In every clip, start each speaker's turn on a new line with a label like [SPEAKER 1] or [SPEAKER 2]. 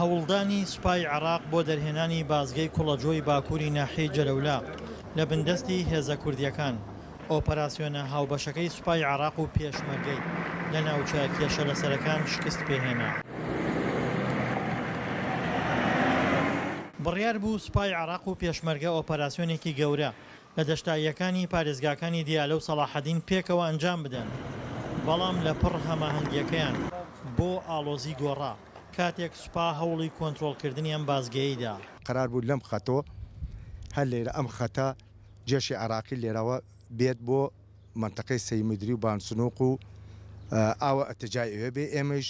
[SPEAKER 1] هەوڵدانی سوپای عێراق بۆ دەرهێنانی بازگەی کوڵەجۆی باکووری ناحیەی جەلەولا لە بندەستی هێزە کوردییەکان، ئۆپەراسیۆنە هاوبەشەکەی سوپای عێراق و پێشمەرگەی لە ناوچە کێشە لەسەرەکان شکست پێهێنا. بڕیار بوو سوپای عێراق و پێشمەرگە ئۆپەراسیۆنێکی گەورە لە دەشتاییەکانی پارێزگاکانی دیالە و سەڵاحەدین پێکەوە ئەنجام بدەن، بەڵام لەپڕ هەماهەنگییەکەیان بۆ ئاڵۆزی گۆڕا، کاتێک سوپا هەوڵی کۆنترۆڵکردنی ئەم بازگەیەی دا. قەرار بوو لەم
[SPEAKER 2] خەتەوە، هەر لێرە ئەم خەتە جێشی عێراقی لێرەوە بێت بۆ مەنتەقەی سەیمدری و بانسنوق و ئاوە ئەتەجای ئەوێ بێ، ئێمەیش.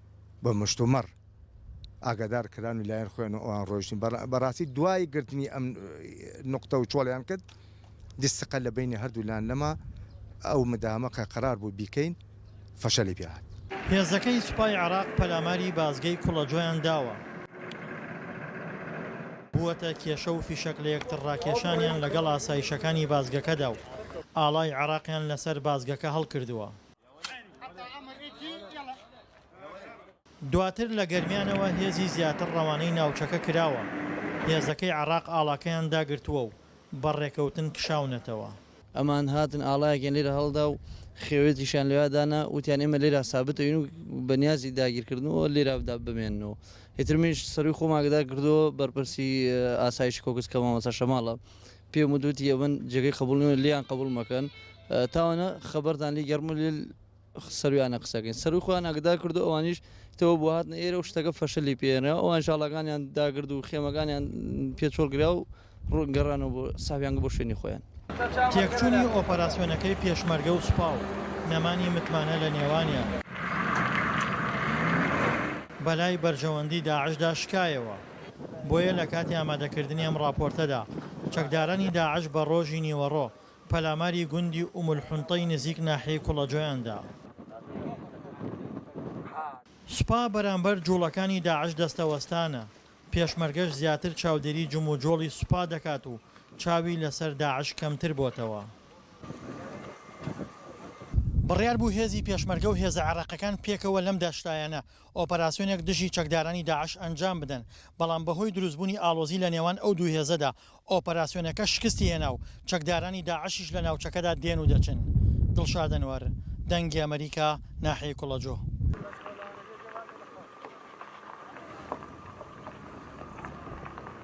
[SPEAKER 2] بە مشتومڕ ئاگادار کران و لایەن خۆیان و ئەوان ڕۆیشتن بەڕاستی دوای گرتنی ئەم نقطە و چۆڵیان کرد دیسقە لە بینی هەردوو لان نەما ئەو مدامە کە قرار بوو بیکەین فەشەلی پێهات. هێزەکەی سوپای
[SPEAKER 1] عێراق پەلاماری بازگەی کوڵەجۆیان داوە. بووەتە کێشە و فیشەک لە یەکتر ڕاکێشانیان لەگەڵ ئاسایشەکانی بازگەکەدا و ئاڵای عێراقیان لەسەر بازگەکە هەڵکردووە. دواتر لە گەرمیانەوە هێزی زیاتر ڕەوانەی ناوچەکە کراوە، هێزەکەی عێراق ئاڵاکەیان داگرتووە و بە ڕێکەوتن کشاونەتەوە. ئەمان هاتن
[SPEAKER 3] ئاڵایەکیان لێرە هەڵدا و خێوێتیشیان لەوێ دانا، وتیان ئێمە لێرە سابت ئەین و بە نیازی داگیرکردنەوە لێرە بمێننەوە. ئیتر منیش سەرووی خۆم ئاگادار کردەوە بەرپرسی ئاسایشی کۆکس کە مامۆستا شەماڵە، پێم وتوتی ئەمن جێگەی قبول نیم لیان قبول مەکەن تاوانە خەبەردان لی گەرم لێ سەرویانە قسەکەین سەرو خۆیان ئەگدار کردو ئەوانیش تەوە بۆ هاتنە ئێرە و شتەکە فەشلی پێێنەوە ئەوان شاڵەکانیان داگرد و خێمەکانیان پێچۆڵگرا و ڕوونگەڕانەوە بۆ ساویانگە بۆ شوێنی خۆیان. تێکچوونی
[SPEAKER 1] ئۆپەراسیۆنەکەی پێشمەرگە و سوپا و نەمانی متمانە لە نێوانیان بەلای بەرژەوەندی داعشدا شکایەوە. دەکات. بۆیە لە کاتی ئامادەکردنی ئەم ڕاپۆرتەدا، چەکدارانی داعش بە ڕۆژی نیوەڕۆ پەلاماری گوندی ئوم الحنطەی نزیک ناحیەی کوڵەجۆیان دا. سوپا بەرامبەر جووڵەکانی داعش دەستەوەستانە، پێشمەرگەش زیاتر چاودێری جموجۆڵی سوپا دەکات و چاوی لەسەر داعش کەمتر بۆتەوە. بڕیار بوو هێزی پێشمەرگە و هێزە عێراقیەکان پێکەوە لەم داشتایانە ئۆپەراسیۆنێک دژی چەکدارانی داعش ئەنجام بدەن، بەڵام بەهۆی دروستبوونی ئاڵۆزی لە نێوان ئەو دوو هێزەدا، ئۆپەراسیۆنەکە شکستی هێنا و چەکدارانی داعشیش لە ناوچەکەدا دێن و دەچن. دڵشاد ئەنوەر، دەنگی ئەمەریکا، ناحیەی کوڵەجۆ.